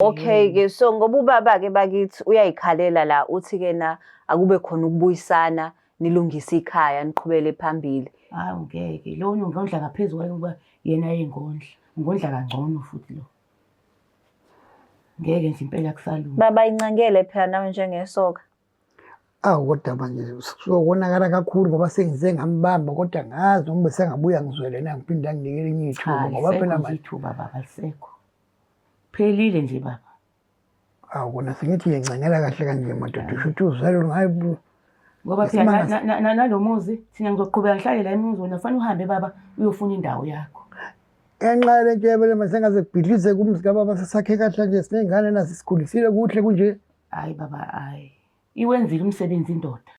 Okay ke so ngoba ubaba ke bakithi uyayikhalela la uthi ke na akube khona ukubuyisana nilungise ikhaya niqhubele phambili. Hayi ngeke lo ngondla ngaphezulu kwayikuba yena yengondla. Ngondla kangcono futhi lo. Ngeke nje impela kusalunga. Baba incangele phela nawe njengesoka. Awu kodwa manje sokonakala kakhulu ngoba sengize ngambamba kodwa ngazi noma besengabuya ngizwele na ngiphinde anginike elinye ithuba ngoba phela manje ithuba baba lisekho. Phelile nje baba. Awu kona sengithi uyencengela kahle kanje madoda usho ukuthi uzalwe ngayo bu. Ngoba phela na- Isimanga- na- na- nalomuzi thina ngizoqhubeka ngihlale la emuzi wena fanele uhambe baba uyofuna indawo yakho. Ngenxa yale nto yabele masengaze kubhidlize kumzi kababa sesakhe kahle nje siney'ngane nazo sikhulisile kuhle kunje. Hayi baba hayi. Iwenzile umsebenzi indoda.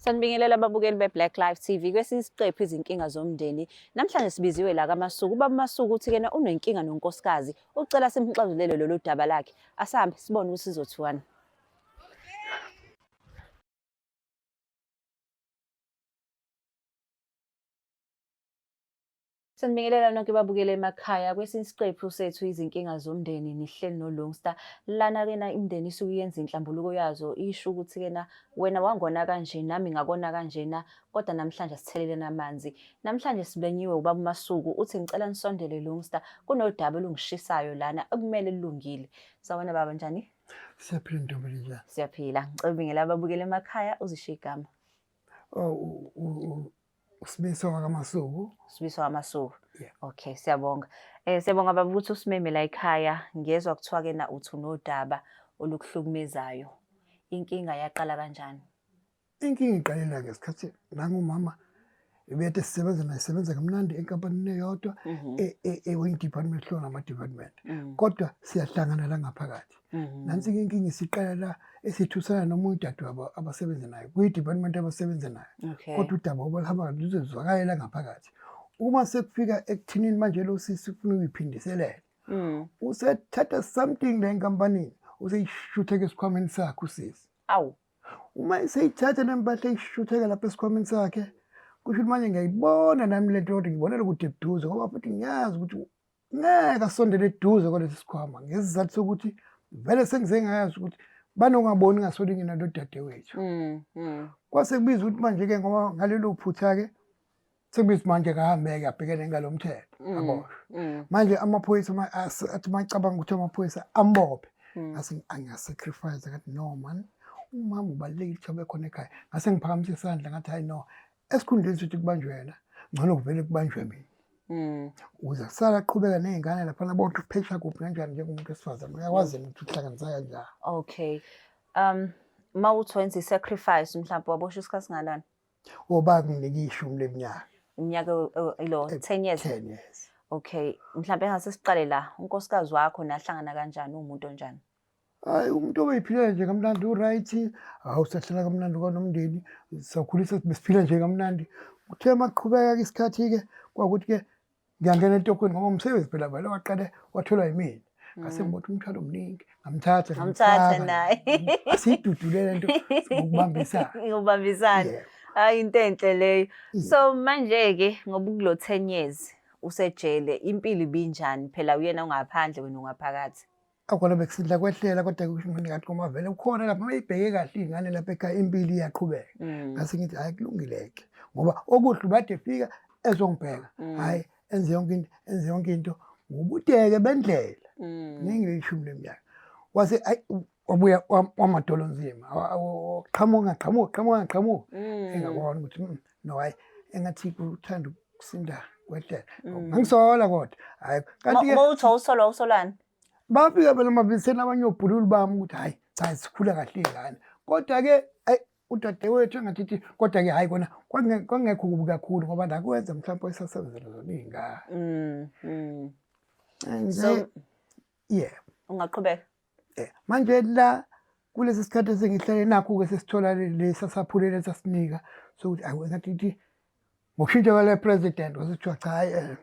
Sanibingelela ababukeli be-Black Life TV kwesinye isiqephu izinkinga zomndeni. Namhlanje sibiziwe la kaMasuku. Ubaba Masuku uthi kena unenkinga nonkosikazi. Ucela simxazulele lolu daba lakhe. Asahambe sibone ukuthi sizothiwani. Sanibingelela nonke babukele emakhaya kwesinye isiqephu sethu izinkinga zomndeni nihleli noLungsta lana kena imndeni isuke yenza inhlambuluko yazo isho ukuthi kena wena wangona kanje nami ngakona kanjena kodwa namhlanje asitheleleni amanzi namhlanje sibenyiwe ubaba uMasuku uthi ngicela nisondele Lungsta kunodaba olungishisayo lana ekumele lilungile sawona baba njani Siyaphila ntombi njani Siyaphila ngicela ubingela ababukele emakhaya uzishiye igama Oh, uSibiso kaMasuku. Sibiso kaMasuku. Yeah. Okay, siyabonga. Eh siyabonga baba ukuthi usimeme la ekhaya ngezwa kuthiwa ke na uthi unodaba olukuhlukumezayo. Inkinga yaqala kanjani? Inkinga iqalela ke isikhathi nangumama ebethe sisebenza naye sebenza kamnandi enkampanini eyodwa Mhm. e- e- ewenye department hlona ama department Mm. kodwa siyahlangana la ngaphakathi Mhm. nansi ke inkinga isiqala la esithusana noma udadewabo abasebenza nayo kuyi-department abasebenza nayo Okay. kodwa udaba obalihamba luzozwakalela ngaphakathi uma sekufika ekuthinini manje lo sisi ufuna ukuyiphindiselela Mm. usethatha something la enkampanini useyishutheka esikhwameni sakhe usisi Awu. uma eseyithatha nempahla eyishutheka lapha esikhwameni sakhe kusho ukuthi manje ngiyayibona nami le nto kodwa ngibonela kude buduze ngoba futhi ngiyazi ukuthi ngeke asondele eduze kwalesi sikhwama ngesizathu sokuthi vele sengize ngayazi ukuthi banongaboni ngasoli ngina lo dadewethu mm, mm. kwase kubiza ukuthi manje-ke ngoba ngalelo phutha-ke sekubiza manje kahambeke abhekene ngalo mthetho mm, aboshwe manje amaphoyisa athi macabanga ukuthi amaphoyisa ambophe ngase angiyasacrifice ngathi no man umama ubalulekile ukuthi abe khona ekhaya ngase ngiphakamisa isandla ngathi hayi no esikhundleni sokuthi kubanjwe wena ngcono kuvele kubanjwe mina mm. uze kusala qhubeka ney'ngane laphana bothi uphesha kuphi kanjani njengomuntu wesifazane uyakwazi yena ukuthi uhlanganisa kanjani okay um ma uthi wenza i-sacrifice mhlawumbe wabosha isikhathi singanani oba oh, kunginike ishumi leminyaka iminyaka ilo 10 years 10 years okay mhlawumbe engase siqale la unkosikazi wakho nahlangana kanjani umuntu onjani Hayi umuntu obeyiphilela nje kamnandi uright hawu sahlala kamnandi kwanomndeni sakhulisa besiphila nje kamnandi kuthe maqhubeka isikhathi-ke kwakuthi-ke ngiyangena entokweni ngoba umsebenzi phela vele waqale watholwa yimina mm. ngase ngibotha umthwalo omningi ngamthatha ngamthatha naye asiyidudule le nto ngokubambisana ngokubambisana hayi into enhle leyo mm. so manje-ke ngoba ukulo ten years usejele impilo ibinjani phela uyena ungaphandle wena ungaphakathi akhona bekusidla kwehlela kodwa kusho ukuthi kanti koma vele ukhona lapha uma ibheke kahle ingane lapha ekhaya impilo iyaqhubeka mm. ngase ngithi hayi kulungileke ngoba okuhle ubade fika ezongibheka mm. hayi enze yonke into enze yonke into ngobuteke bendlela mm. ningi leshumi leminyaka wase wabuya wamadolo nzima qhamuka qhamuka qhamuka qhamuka engabona ukuthi no hayi engathi kuthanda ukusinda kwehlela mm. ngisola kodwa hayi kanti ke uthi usolwa usolani bafika phela mabiseni abanye obhululu bami ukuthi hayi cha sikhula kahle ingane kodwa ke ayi udadewethu engathithi kodwa ke hayi kona kwangekho kubi kakhulu ngoba nakwenza mhlawumbe isasebenzela zona iy'ngane mm, mm. so yeah ungaqhubeka yeah. manje la kulesi sikhathi esengihlale nakho-ke sesithola lesi asaphulele sasinika sokuthi ayi ngathi ithi ngokushintsha kwale president wasethiwa cha hayi um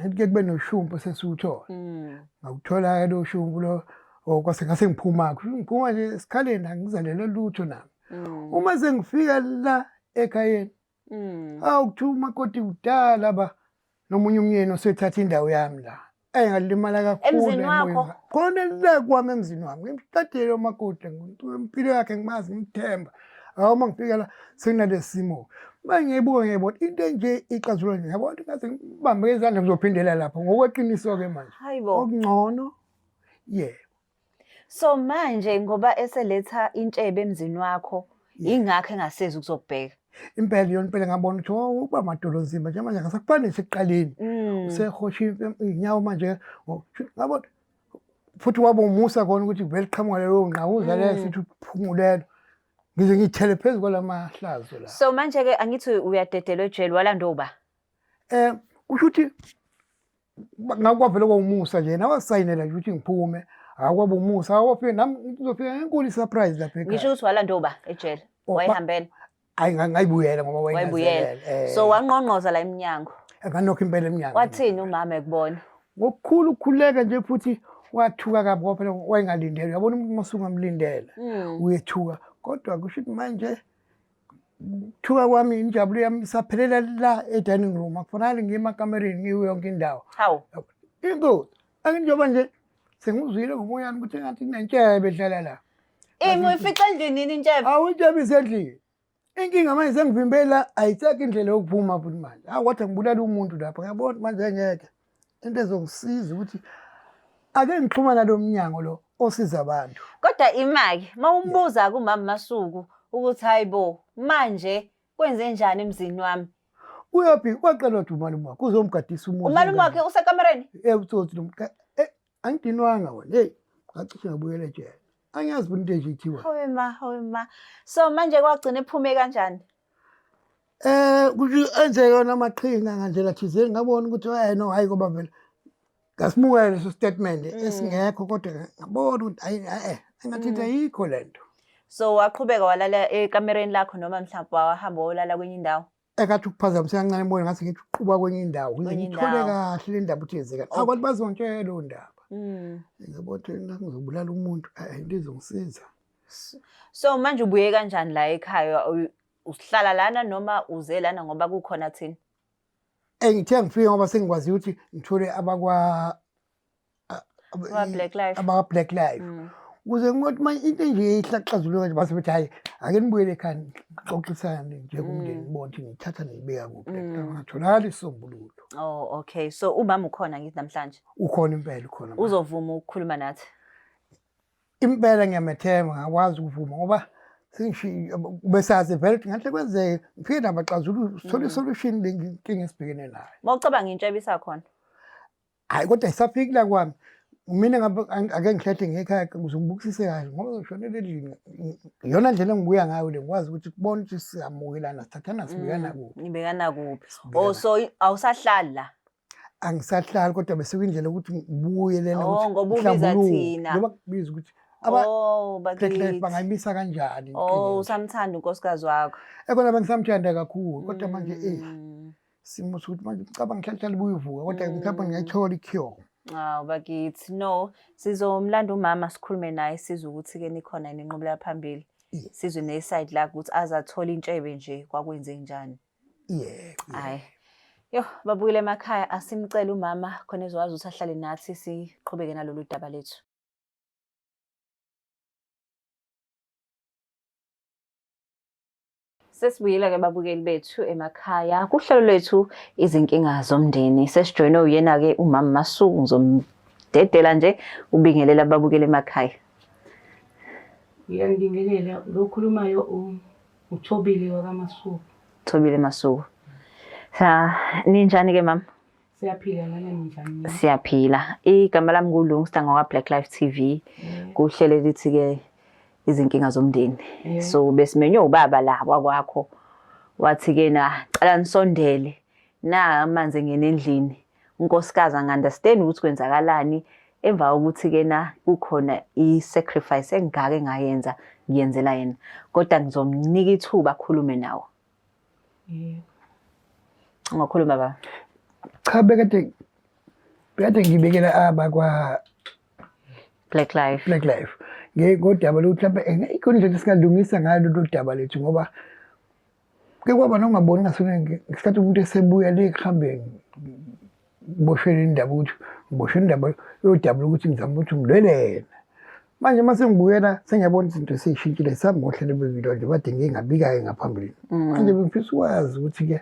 eh, ke kube noshumpu sesiwuthola mm. ngawuthola-ke lo shumpu lo oh, kwase ngase ngiphuma-ko ngiphuma nje esikhaleni angizalele lutho nami mm. uma sengifika la ekhayeni Mm. Hawu kuthiwa umakoti kudala ba nomunye umyeni osethatha indawo yami la. Ey ngalimala kakhulu. Emzini wakho? emoyeni. Khona le kwami emzini wami. Ngimqedile umakoti ngimuntu impilo yakhe ngimazi ngimthemba. Hawu uma ngifika la senginalesimo. Uma ngiyibuka ngiyibona into enje ixazulwa nje. Yabona ukuthi ngaze ngibambe izandla ngizophindela lapho ngokweqiniso ke manje. Hayibo. Okungcono yebo. So manje ngoba eseletha intshebe emzini wakho ingakho engasezi ukuzokubheka. Impela yona impela ngabona ukuthi oh, uba madolo nzima nje manje ngasakufani sekuqaleni. Mm. Usehosha inyawo manje ngabona futhi waba umusa kona ukuthi vele qhamuka leyo ngqawuza mm. lesi ukuthi uphumulelo. Ngize ngithele phezu kwalamahlazo la. So manje ke angithi uyadedelwa ejele walandwa uba. Eh kusho ukuthi ngakwavele kwawumusa nje nawasayinela nje ukuthi ngiphume akwaba umusa awofike nami ngizofika ngenkulu i-surprise lapha ekhaya ngisho ukuthi walanda uba ejele oh, wayehambela hayi ngayibuyela ngoba wayibuyela eh. so wangqongqoza la emnyango nganokho impela emnyango wathini umama ekubona ngokukhulu ukukhuleka nje futhi wathuka kabi ngoba phela wayengalindele uyabona umuntu uma usungamlindele hmm. uyethuka kodwa kusho ukuthi manje ukuthuka kwami injabulo yami isaphelela la e-dining room akufanali ngiye emakamereni ngiyo yonke indawo hawu into anginjengoba nje sengizwile ngomoyami ukuthi engathi kunentshebe edlala la imi uyifica endlini yini intshebe awu intshebe isendlini inkinga manje sengivimbela ayisekho indlela yokuphuma futhi manje awu kodwa ngibulala umuntu lapho ngiyabona manje ngeke into ezongisiza ukuthi ake ngixhumana lo mnyango lo osiza abantu kodwa imake mawumbuza kumama masuku ukuthi hayibo manje kwenze njani emzini wami uyaphi waqela ukuthi umalume wakhe uzomgadisa umuzi umalume wakhe usekamereni eh utsotsi lo angidinwanga wena heyi ngacishe ngabuyela ejele angiyazi bona into enje ithiwa hawe ma hawe ma so manje kwagcina ephume kanjani eh kuthi enze yona amaqhinga ngandlela thizeni ngabona ukuthi hayi eh, no hayi koba vele ngasimukela leso statement mm. esingekho kodwa ngabona ukuthi hayi eh engathi mm. ayikho lento so waqhubeka walala ekamereni lakho noma mhlawumbe wahamba wolala kwenye indawo engathi ukuphazamiseka kancane emoyeni ngathi ngithi uqhuba kwenye indawo ngithole kahle le ndaba ukuthi yenzeka abantu bazontshela leyo ndaba mm. ngiyabona ukuthi ngizobulala umuntu into izongisiza so manje ubuye kanjani la ekhaya uhlala lana noma uze lana ngoba kukhona thina engithe ngifike ngoba sengikwazi ukuthi ngithole abakwa Black Life. Abaka-Black Life. Mm. Ukuze ngokuthi manje into enje ihlaxazulwe kanje base bethi hhayi ake nibuye ekhaya nixoxisane njengomndeni mm. bonke nithatha niyibeka kuphi mm. ngatholakali isisombululo. Oh okay. So umama ukhona ngithi namhlanje. Ukhona impela ukhona. Uzovuma ukukhuluma nathi. Impela ngiyamethemba ngakwazi ukuvuma ngoba besazi vele ukuthi ngahle kwenzeke ngifike nabaxazululi sithole isolution lenkinga esibhekene nayo. Mawucabanga intsha ebisakhona. hayi kodwa isafiki la kwami mina ake ngikhethe ngekhaya ukuze ngibukisise kahle ngoba ngishonele endlini iyona ndlela engibuya ngayo le ngikwazi ukuthi kubona ukuthi siyamukelana sithathana sibuyana mm, kuphi nibekana kuphi o oh, so awusahlali la angisahlali kodwa bese kuyindlela ukuthi ngibuye lena oh, ukuthi ngoba ubiza thina ngoba kubiza ukuthi Oh, bakithi bangayimisa kanjani? Oh, usamthanda unkosikazi wakho. Ekona bengisamthanda kakhulu kodwa manje eh mm. simo sokuthi manje ngicabanga ngihlalihlale buyivuka kodwa mm. mhlawumbe ngingayithola i-cure Hawu ah, bakithi no sizomlanda umama sikhulume naye sizwe ukuthi-ke nikhona yini enqubela phambili sizwe ne-side lakhe ukuthi aze athole intshebe nje kwakwenze njani yeah hayi yo babuyile emakhaya asimcele umama khona ezokwazi ukuthi ahlale nathi siqhubeke nalolu daba lethu Sesibuyile-ke babukeli bethu emakhaya kuhlelo lwethu izinkinga zomndeni. Sesijoyinwe uyena-ke umama Masuku ngizomdedela nje ubingelela ababukeli emakhaya. Ngiyanibingelela lo okhulumayo u- uThobile wakaMasuku. Thobile Masuku. Sa ninjani-ke mama? Siyaphila ngane mfana. Siyaphila. Igama lami nguLungsta ngokwa Black Life TV. Mm. Kuhlele lithi ke izinkinga zomndeni. Mm. So besimenywe ubaba la kwakwakho. Wathi ke na cela nisondele na amanzi ngene endlini. Unkosikazi angunderstand ukuthi kwenzakalani emva kokuthi ke na kukhona i sacrifice engaka engayenza ngiyenzela yena. Kodwa ngizomnika ithuba akhulume nawo. Yebo. Ungakhuluma baba. Cha bekade bekade ngibekela aba kwa Black Life. Black Life. Ngeke kodaba lokuthi lapha ngeke indlela singalungisa ngayo lolu daba lethu ngoba ke kwaba nongaboni ngasona ngesikhathi umuntu esebuya le kuhambeni ngiboshele indaba ukuthi ngiboshele indaba yodabula ukuthi ngizama ukuthi ngilwelena manje uma sengibuyela sengiyabona izinto seyishintshile sambohlelo bevilo nje bade ngingabikayo ngaphambilini mm. manje bengifisa ukwazi ukuthi-ke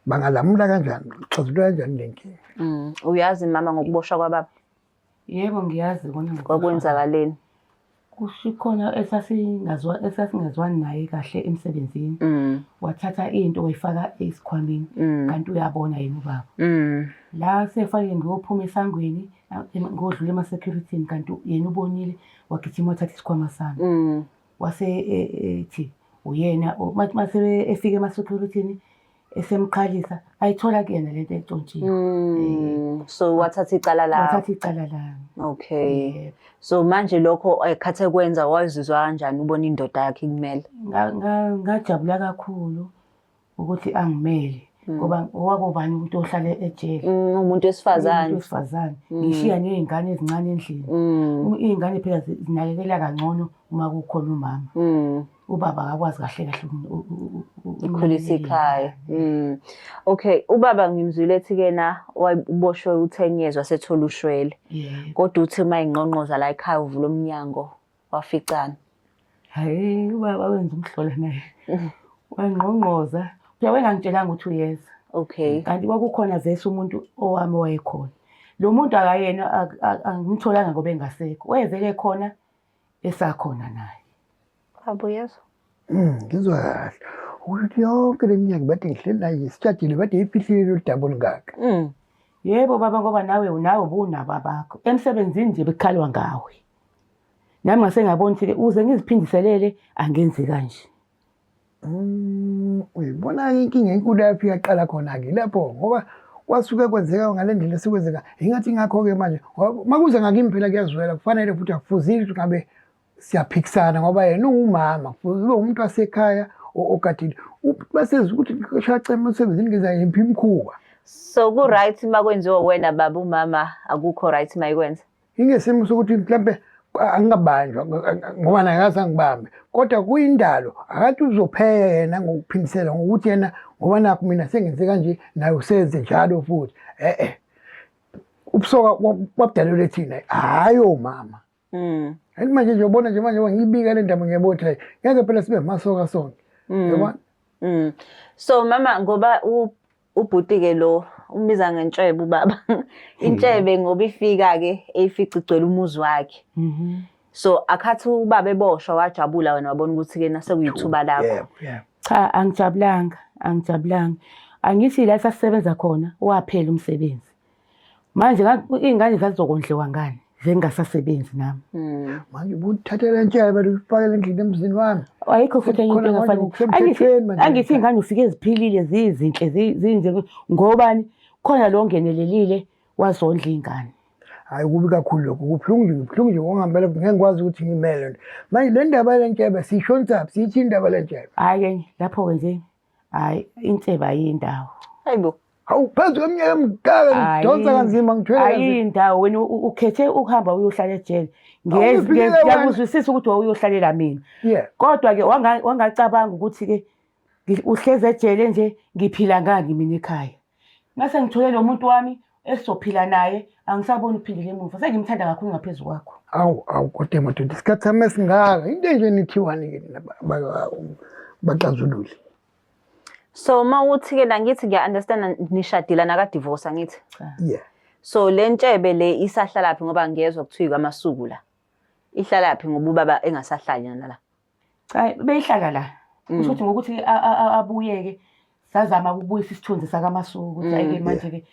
bangalamula kanjani xazulula kanjani le nkinga mm. uyazi mama ngokuboshwa kwababa Yebo ngiyazi kona kwakwenzakaleni. Kusho khona esasingazwa esasingezwani naye kahle emsebenzini. Mm. Wathatha into wayifaka esikhwameni mm. kanti uyabona yena ubaba. Mm. La sefake ngiyophuma esangweni ngodlula ema security kanti yena ubonile wagijima wathatha isikhwama sami. Wase e, ethi uyena mase efike ema security esemqalisa ayithola kuyena le nto entshontshiwe Mm, so wathatha icala lakho wathatha icala lami okay Yebo. so manje lokho ekhathe kwenza wazizwa kanjani ubona indoda yakhe ikumele Nga- nga- ngajabula kakhulu ukuthi angimele Mm. ngoba owakobani ukuthi ohlale ejele Mm, umuntu wesifazane Umuntu wesifazane Mm. ngishiya nezingane ezincane endlini Mm, iy'ngane phela zi- zinakekela kangcono uma kukhona umama mm. ubaba akakwazi kahle kahle ukukhulisa ikhaya mm. okay ubaba ngimzwile ethi kena waboshwe u10 years wasethola ushwele kodwa uthi uma ingqonqoza la ekhaya uvula umnyango waficana hayi ubaba wenza umhlola naye wangqongqoza phela wengangitshelanga ukuthi uyeza okay kanti kwakukhona vese umuntu owami owayekhona lo muntu akayena angimtholanga ngoba engasekho wayevele khona esakhona naye baba uyezwa mm, ngizwa kahle ukuthi yonke le minyaka bade ngihleli naye sitshadile bade ifihlile lolu daba olungaka mm. yebo baba ngoba nawe unawe ubunabo abakho emsebenzini nje bekukhalwa ngawe nami ngase ngabona ukuthi-ke uze ngiziphindiselele angenzi kanje Mm, uyibona inkinga enkulu yaphi yaqala khona-ke lapho ngoba kwasuke kwenzeka ngale ndlela sekwenzeka ingathi ingakho-ke manje uma kuze ngakimi phela kuyazwela kufanele futhi akufuzile ukuthi ngabe siyaphikisana ngoba yena ungumama kufuze ube umuntu wasekhaya ogadile basezi ukuthi shacema usebenzini ngizayiphi imkhuba so ku-right uma kwenziwa wena baba umama akukho right uma ikwenza Ingesimo sokuthi mhlampe angingabanjwa ngoba naye akaze angibambe kodwa kuyindalo akathi uzopheka yena ngokuphindisela ngokuthi yena ngoba nakho mina sengenze kanje naye usenze njalo futhi e-e ubusoka babudalelwe thina hhayi omama mm. and manje nje ubona nje manje ngiyibika le ndaba ngiyabona ukuthi hayi ngeke phela sibe masoka sonke mm. yabona mm. so mama ngoba Ubhuti ke lo umbiza ngentshebe ubaba. Intshebe hmm. ngoba ifika ke eyifica igcwele umuzi wakhe. Mhm. So akhathi ubaba eboshwa wajabula wena wabona ukuthi ke nase kuyithuba lakho. Cha angijabulanga, angijabulanga. Angithi la sasisebenza khona waphela umsebenzi. manje iy'ngane zazizokondliwa ngani zengingasasebenzi nami hmm. manje ubuthathela ntshela bantu ufakele endlini emzini wami ayikho futhi enye into engafanele angithi iy'ngane ufike ziphilile zizinhle zinje ngobani khona lo ngenelelile wazondla iy'ngane hhayi kubi kakhulu lokho kubuhlungu nje kubuhlungu nje ngokungampela ngeke ngikwazi ukuthi ngimele nto manje le ndaba le ntshebe siyishonisa phi siyithi indaba le ntshebe hhayi-ke lapho-ke nje hayi insebe ayiyindawo hayi bo hawu phezu kweminyaka emdala ngidonsa kanzima ngithwele ayiyindawo wena ukhethe ukuhamba uyohlala ejele ngiyakuzwisisa ukuthi wawuyohlalela mina kodwa-ke wangacabanga ukuthi-ke uhlezi ejele nje ngiphila ngani mina ekhaya Ngase ngithole lo muntu wami esizophila naye angisaboni uphindile emuva sengimthanda kakhulu ngaphezu kwakho awu awu kodwa madoda isikhathi sami esingaka into enje nithiwani ke nina ba- ba- baxazululi so uma uthi ke la ngithi ngiya-understanda nishadile nakadivosa ngithi cha yeah so le ntshebe le isahlalaphi ngoba ngiyezwa kuthiwa ikwamasuku la ihlalaphi ngoba ubaba engasahlali nala cha beyihlala la Mm. kusho ukuthi ngokuthi a- a- a- abuyeke sazama ukubuyisa isithunzi sakamasuku ukuthi Mm, ayike yeah. manje-ke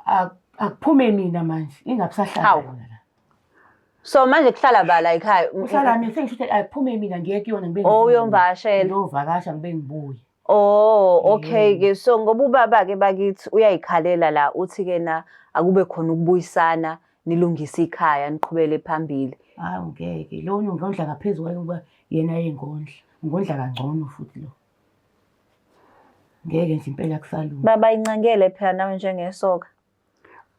a- akuphume mina manje ingabusahlala Hawu. yona la. so manje kuhlala bala ekhaya kuhlala mina sengisho ukuthi akuphume mina ngiye kuyona ngibe Oh, ngibuye. uyomvakashela. ngiyovakasha ngibe ngibuye Oh, okay mm. ke. So ngoba ubaba ke bakithi uyayikhalela la uthi ke na akube khona ukubuyisana nilungise ikhaya niqhubele phambili. Hayi ngeke. Lo ngondla ngaphezulu kwayo kuba yena yengondla. Ngondla kangcono futhi lo. Ngeke nje impela kusalunga. Baba incangele phela nawe njengesoka.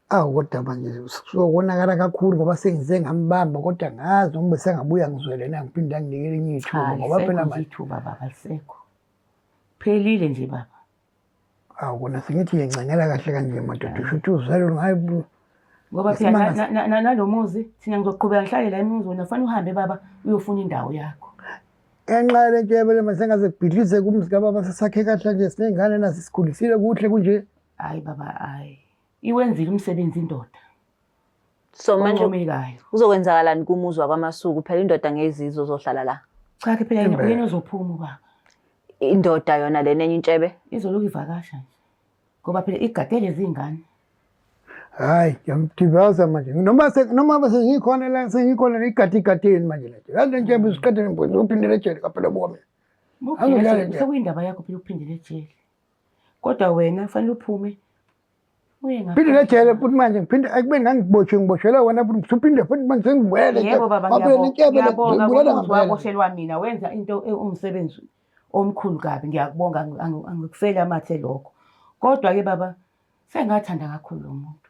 awu kodwa manje sokonakala kakhulu ngoba sengize ngambamba kodwa ngazi noma besengabuya ngizwele na ngiphinde anginikele enye ithuba ngoba phela manje ithuba baba lisekho phelile nje baba awu kona sengithi yencengela kahle kanje madoda usho ukuthi uzalo ngayo ngoba phela nalo muzi thina ngizoqhubeka ngihlale la emuzi wena fanele uhambe baba uyofuna indawo yakho ngenxa yale nto yabele masengaze kubhidlize kumzi kababa sesakhe kahle nje siney'ngane nazo sikhulisile kuhle kunje hayi baba hayi iwenzile umsebenzi indoda so manje omekayo kuzokwenzakalani kumuzwa kwamasuku phela indoda ngezizwe uzohlala la cha ke phela Impela. yena uzophuma ubaba indoda yona lena enye intshebe izoloku ivakasha nje ngoba phela igade lezi ngane hayi ngiyamdibaza manje noma se- noma bese ngikhona la sengikhona igadi igadeni manje la nje yazi nje usiqedele mboni uphindele ejele kaphela buka mina Angidlali Angidlali nje. sekuyindaba yakho phela ukuphindela ejele kodwa wena kufanele uphume uye ngaphandle. phinde nejele futhi manje ngiphinde ekubeni ngangibotshwe ngiboshelwe wena futhi ngiphinde futhi manje sengibuyele yebo baba ngiyabonga ngokuzwa koshelwa mina wenza into e, umsebenzi omkhulu kabi ngiyakubonga angikufeli amathe lokho kodwa-ke baba sengathanda kakhulu lo muntu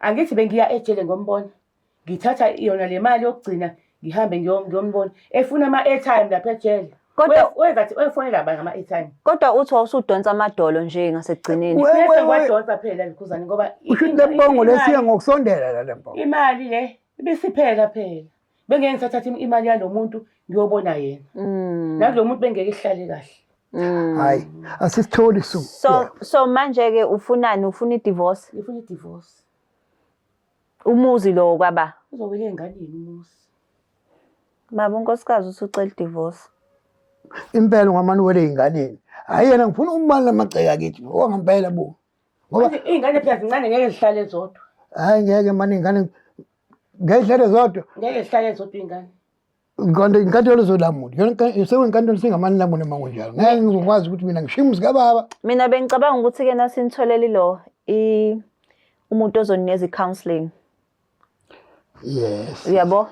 angithi bengiya ejele ngombona ngithatha yona le mali yokugcina ngihambe ngiyo- ngiyombona efuna ama-airtime lapha ejele Kodwa- We- wenza thi uyofonela bani ngama-airtime kodwa uthi wawusudonsa amadolo nje ngasekugcineni We- we- bese we- ngiwadonsa phela likhuzane ngoba i- usho ukuthi inga- le mbongo le imali- siya ngokusondela la le mbongo imali le ibisiphela phela bengeke ngisathatha im- imali yalo muntu ngiyobona yena Mm. nakulo muntu bengeke ihlale kahle Mm. hayi asisitholi su so so manje ke ufunani ufuna idivorce ngifuna idivorce umuzi lowo kwaba uzowela ey'nganeni umusi baba unkosikazi usucela idivorce impela ungamane uwele ey'nganeni hhayi yena ngifuna umali lamagceke akithi owangampela bo ngoba Manje iy'ngane phela zincane ngeke zihlale zodwa hhayi ngeke mane iy'ngane ngeke zihlale zodwa ngeke zihlale zodwa iy'ngane kanti inkantolo zolamula sekuyinkantolo singamani lamula uma kunjalo ngeke ngizokwazi ukuthi mina ngishiye umuzi kababa mina bengicabanga ukuthi-ke nasinitholele ilo umuntu ozonikeza i-counseling yes uyabo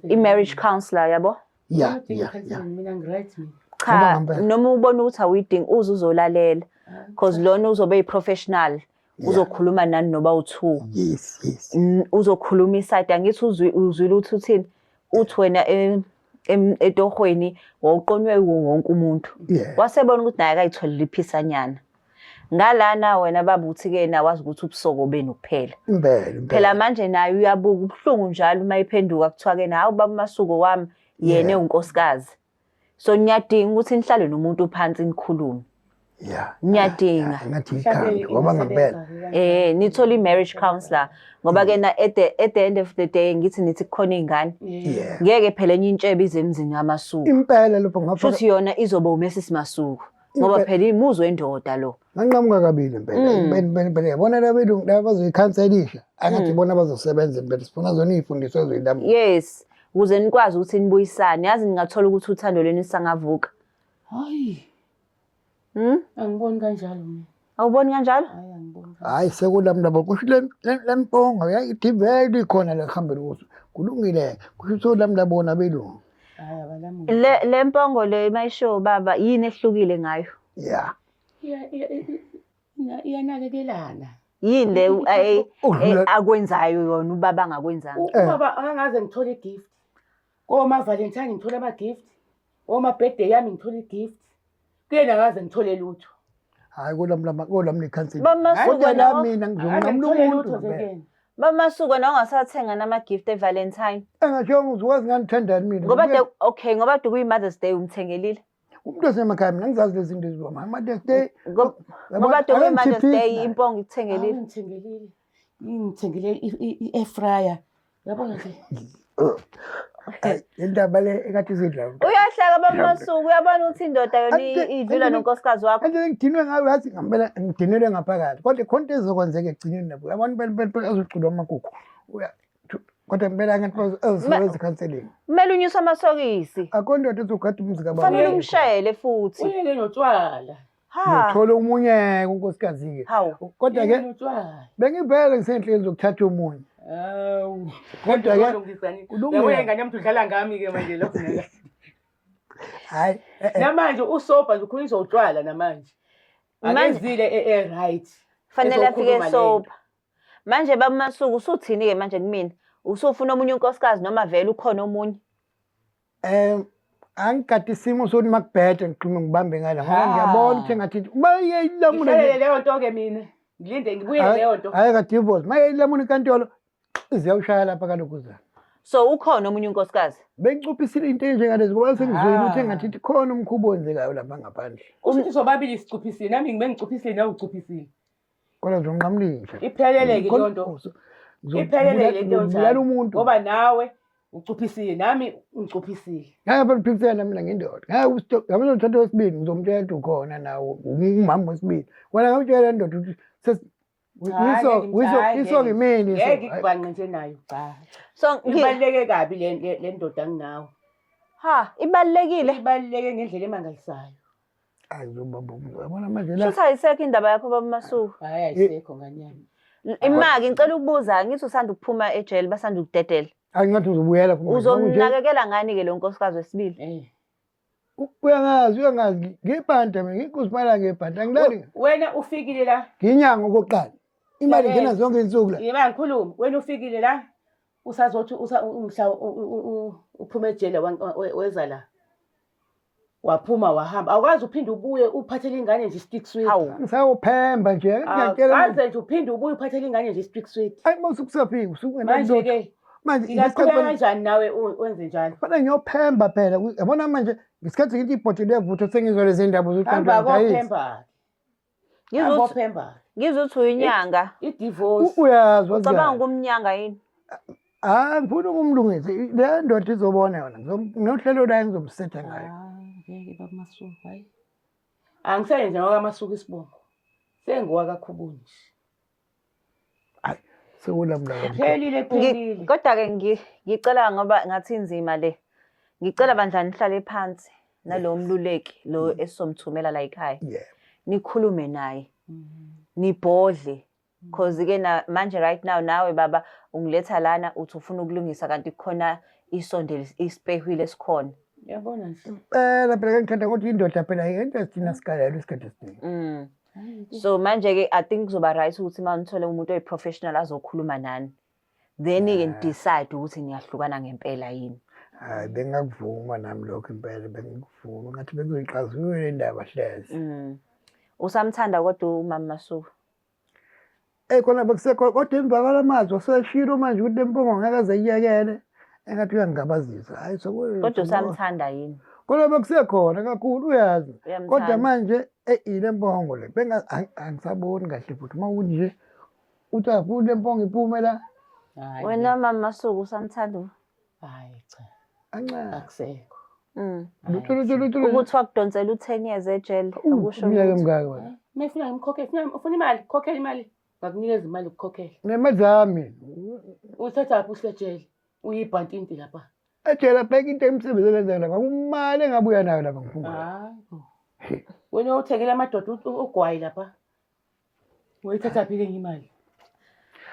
i-marriage counselor yabo ya ya ya cha noma ubona ukuthi awuyidingi uze uzolalela because lona uzobe yi-professional uzokhuluma nani noba u-two yes yes N- uzokhuluma isayidi angithi uzwi- uzwile ukuthi uthini uthi wena e- em- etohweni wawuqonywe yiwo wonke umuntu yeah wasebona ukuthi naye akayitholile iphisanyana ngalana wena baba uthi-ke yena wazi ukuthi ubusoko benu kuphela impela phela impela manje naye uyabuka ubuhlungu njalo uma iphenduka kuthiwa-ke nawe baba umasuko wami yena Yeah. ewunkosikazi so niyadinga ukuthi nihlale nomuntu phansi nikhulume yeah niyadinga ngathi ikhanda ngoba ngempela eh nithola i-marriage counselor ngoba ke na at the, at the end of the day ngithi nithi kukhona iy'ngane yeah ngeke phela enye intshebe ize emzini kamasuku impela lapho ngapha shuthi yona izoba umesisi masuku ngoba Impe- phela imuzwe endoda lo Nganqamuka kabili impela. Mm. Impela impela impela. Yabona laba belungu laba bazoyikhanselisha. Angathi bona bazosebenza impela. Sifuna zona izifundiswa ezoyilamu. Yes. Ukuze nikwazi ukuthi nibuyisane. Yazi ningathola ukuthi uthando lwenu lisangavuka. Hayi. Hmm? Angiboni kanjalo mina. Awuboni kanjalo? Hayi angiboni. kanjalo. Hayi sekulam labo kusho le le- le mpongo yayidivele ikhona la kuhambela ukuthi kulungile. Kusho ukuthi olam labona belungu. Hayi abalamuli. Le le mpongo le mayisho baba yini ehlukile ngayo? Yeah. iyanakekelana yini le akwenzayo yona ubaba angakwenzanga ubaba angaze ngithole igift komavalentine ngithole ama-gift omabhede yami ngithole igift kuyena akaze ngithole lutho hayi kolami nekhanselamina ngizonqamula umuntu bamasuka nawe ungasathenga nama-gift evalentine engashongo uzikwazi ngandithandani mina ngoba okay ngoba de kuyi-mothers day umthengelile umuntu osemakhaya mina ngizazi lezi zinto eziwa mama mother's day Ngob- ngoba kade Ayomkhiphi- kuyi-mother's day impongo ikuthengelile Ngithengelile. Ngithengele i-air fryer. Yabo nje. Ay, le ndaba le ekade izidla uyahleka bamasuku uyabona ukuthi indoda yona Ante- i- idlula ante- nonkosikazi wakho kanti ngidinwe ngayo yathi ngempela ngidinelwe ngaphakathi kodwa khona into ezokwenzeka ekugcineni nabo yabona impela impela impela azoculwa amakukhu Uya- kodwa kumele angathi ezisebenza ecounseling kumele unyuse amasokisi akho ndoda ezogada umuzi kabafanele umshayele futhi uyeke notshwala nothola omunye unkosikazi-ke kodwa-ke bengibheke ngisenhleni zokuthatha omunye hayi eh, eh. namanje usobha nje ukhulisa utshwala namanje akezile e-right fanele afike sobha Manje baba Masuku usuthini ke manje kumina? Usufuna omunye unkosikazi noma vele ukhona omunye? Eh angikade isimo sokuthi makubhede ngiqhume ngibambe ngala ngoba Ah. ngiyabona ukuthi engathi uma yeyilamuna Ngihlalele leyo nto ke mina. Ngilinde ngibuye leyo nto. hayi ka divorce uma yeyilamuna inkantolo iziyawushaya lapha kaloku zana So ukhona omunye unkosikazi? bengicuphisile into enjengalezi ngoba sengizwile ukuthi Ah. engathi ithi khona umkhuba owenzekayo lapha ngaphandle Kusho ukuthi sobabili sicuphisile nami ngibe ngicuphisile nawe ucuphisile. kodwa nje unqamlinje iphelele ke leyo nto iphelele ke leyo nto umuntu ngoba nawe ucuphisile nami ngicuphisile ngeke phela uphikisele namina ngendoda ngeke usitho ngabe uthatha wesibili ngizomtshela ukuthi ukhona nawo umama wesibili wena ngawutshela ndoda ukuthi iso ngimini ngeke ikubhanqe nje nayo cha so ngibaleke kabi le ndoda nginawo ha ibalekile ibaleke ngendlela emangalisayo yabona manje la Shuthi ayisekho indaba yakho baba Masuku. Hayi ayisekho nganyama. L- Imaki ngicela ukubuza ngithi usanda ukuphuma ejele basanda ukudedela. ayi ngathi uzobuyela kumanje. Nje, Uzomnakekela ngani ke lo nkosikazi wesibili? Eh. u- uyangazi uyangazi ngibhanta mina ngikuzimayela ngebhanta angilali We- Wena ufikile la. nginyanga okokuqala imali Yabona. ngena zonke insuku la Yeba ngikhuluma. Wena ufikile la. Usazothi usa umhla u- u- u- uphuma ejele wan- we- weza la. waphuma wahamba awukwazi uphinde ubuye uphathele ingane nje i-stick sweet Awu. ngisawuphemba nje ngiyakutshela manje. awukaze nje uphinde ubuye uphathele ingane nje i-stick sweet ayi uma usukusafika usukungenani manje lutho ke manje ngingaqhubeka ngesikhathi manje- kanjani nawe u- wenze njalo kufanele ngiyophemba phela Ku- yabona manje ngesikhathi ngithi ibhodi levutho sengizwa lezi ndaba hamba zokuqandayi kophemba Ngizwe uthi- Abophemba. ngizwe uthi uyinyanga I divorce. U- Uyazi ucabanga wazikani? ukumnyanga yini Ah ngifuna ukumlungisa. I- Le ndoda izobona yona. Ngizom- Nginohlelo layo ngizomsetha ngayo. Ah, ngeke bamasuku hayi. Angisayenze ngaka masuku isibongo. Sengiwa kakhubuni nje. Hayi sewona mntaka. Phelile phelile. Kodwa ke ngicela ngoba ngathi inzima le. Ngicela bandla nihlale phansi nalowo mluleki lo mm. esizomthumela la ekhaya. Yeah. Nikhulume naye. Mm-hmm. Nibhodle. Mm. Cause ke na manje right now nawe baba ungiletha lana uthi ufuna ukulungisa kanti khona isondele isipehwile esikhona. Yabona nje. Phela phela ngithanda ukuthi indoda phela yento esithina sikalelo isikhathi esiningi. Mm. so manje-ke i think kuzoba right ukuthi uma nithole umuntu oyi-professional azokhuluma nani then-ke nidecide ukuthi niyahlukana ngempela yini hayi bengakuvuma nami lokho impela bengikuvuma ngathi bekuyiqazulule indaba hleze mm. usamthanda kodwa umama masuku Eyi khona bekusekhona kodwa emva kwala mazwi oseshilo manje ukuthi lempungo ngeke aze iyekele engathi uyangingabazisa hayi kodwa usamthanda yini kodwa bekusekhona kakhulu uyazi kodwa manje eyi le mpongo le angisaboni kahle futhi uma ukuthi nje uthi afuni le mpongo iphume la wena mama suku usamthanda Hayi cha. Anxenxe. Akusekho. Mm. Lutho lutho lutho. lutho. Ukuthi wakudonsela uthenyeze ejele Uh, akusho Umyeke lutho. mngaki wena. Uma efuna ngimkhokhele, funa ufuna imali, khokhela imali. Ngakunikeza imali ukukhokhela. Nemali zami. Uthathaphi usejele? Uyibhantinti lapha. Ejela bheka into emsebenzi elenza lapha. Kumali engabuya nayo lapha ngifunga. Hayi. bo. Wena uthekela amadoda u- u- ugwayi lapha. Uyithathaphi-ke enye imali?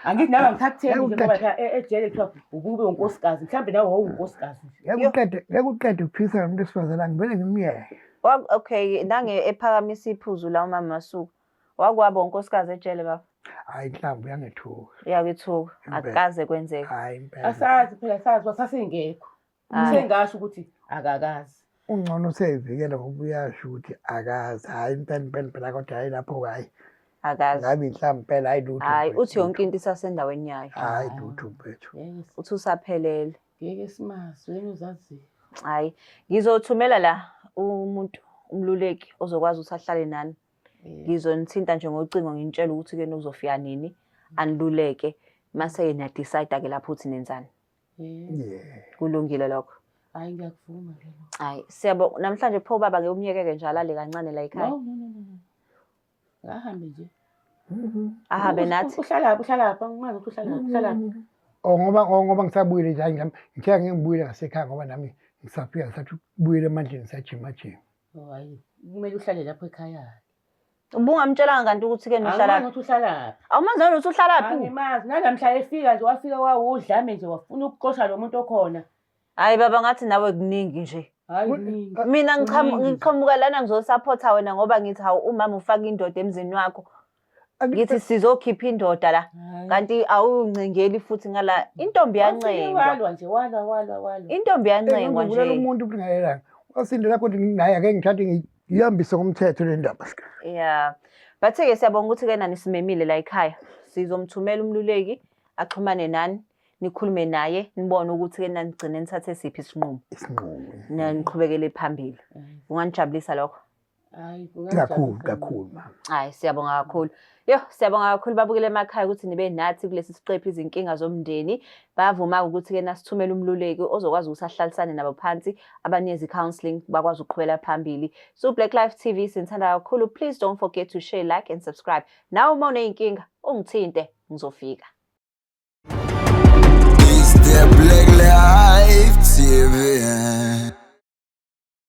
Angithi nawe angithakutheni nje ngoba phela e- ejele kuthiwa ukube unkosikazi. Mhlawumbe nawe wawunkosikazi nje. Ngeke uqede ngeke uqede ukuphikisa nomuntu wesifazane angivele ngimyeke. Wa- Okay, nange ephakamisa iphuzu la umama Masuku. Wakwabo unkosikazi ejele baba. Hayi inhlamvu yangethuka. Uyakuthuka. Impela. Akukaze kwenzeke. Hayi impela. Asazi phela sazi wasasingekho. Usengasho ukuthi akakazi. Ungcono useyivikela ngoba uyasho ukuthi akazi. Hayi impela impela impela kodwa hayi lapho hayi. Akazi. Ngabe inhlamba impela hayi lutho. Hayi uthi yonke into isasendaweni yayo. Hayi lutho mfethu. Uthi usaphelele. Ngeke simazi wena uzazi. Hayi ngizothumela la umuntu umluleki ozokwazi ukuthi ahlale nani. Ngizonithinta nje ngocingo nginitshela ukuthi ke nizofika nini aniluleke mase yena decide ke lapho uthi nenzani. yeah kulungile lokho hayi ngiyakuvuma ke lo hayi siyabo namhlanje pho baba ke umyekeke nje alale kancane la ekhaya no no no no ngahambe nje mm-hmm. ahambe nathi uhlala lapha uhlala lapha ngingazi ukuthi uhlala lapha uhlala lapha oh ngoba oh, ngoba ngisabuyile nje ngiyam ngithe ngibuyile ngasekhaya ngoba nami ngisafika ngisathi kubuyele emandleni sajima jima Oh, hayi kumele uhlale lapho ekhaya ubungamtshelanga kanti ukuthi-ke nohlala ukuthi uhlalaphi awumazi nanokuthi uhlalaphi angimazi nanamhla efika nje wafika wawudlame nje wafuna ukuxosha lo muntu okhona hhayi baba ngathi nawe kuningi nje mina ngiqhamuka lana ngizosaphotha wena ngoba ngithi hawu umama ufake indoda emzini wakho ngithi sizokhipha indoda la kanti awuncengeli futhi ngala intombi yancengwa walwa nje walwa walwa walwa intombi yancengwa nje ngibulala umuntu ubungayelanga wasindela kodwa nginaye ake ngithathe ngiyihambise ngomthetho le ndaba yeah bathe ke siyabonga ukuthi ke nani simemile la ekhaya sizomthumela umluleki axhumane nani nikhulume naye nibone ukuthi ke nanigcine nithathe siphi isinqumo isinqumo naniqhubekele phambili mm. unganijabulisa lokho Hayi, kungajabulisa Kakhulu, mina. kakhulu mama. Hayi siyabonga kakhulu. Yo siyabonga kakhulu babukele emakhaya ukuthi nibe nathi kulesi siqephu izinkinga zomndeni. Bavuma ukuthi ke nasithumela umluleki ozokwazi ukuthi ahlalisane nabo phansi abanikeze counseling bakwazi ukuqhubela phambili. So Black Life TV sinithanda kakhulu. Please don't forget to share, like and subscribe. Nawe uma uneyinkinga ungithinte ngizofika. It's the Black Life TV.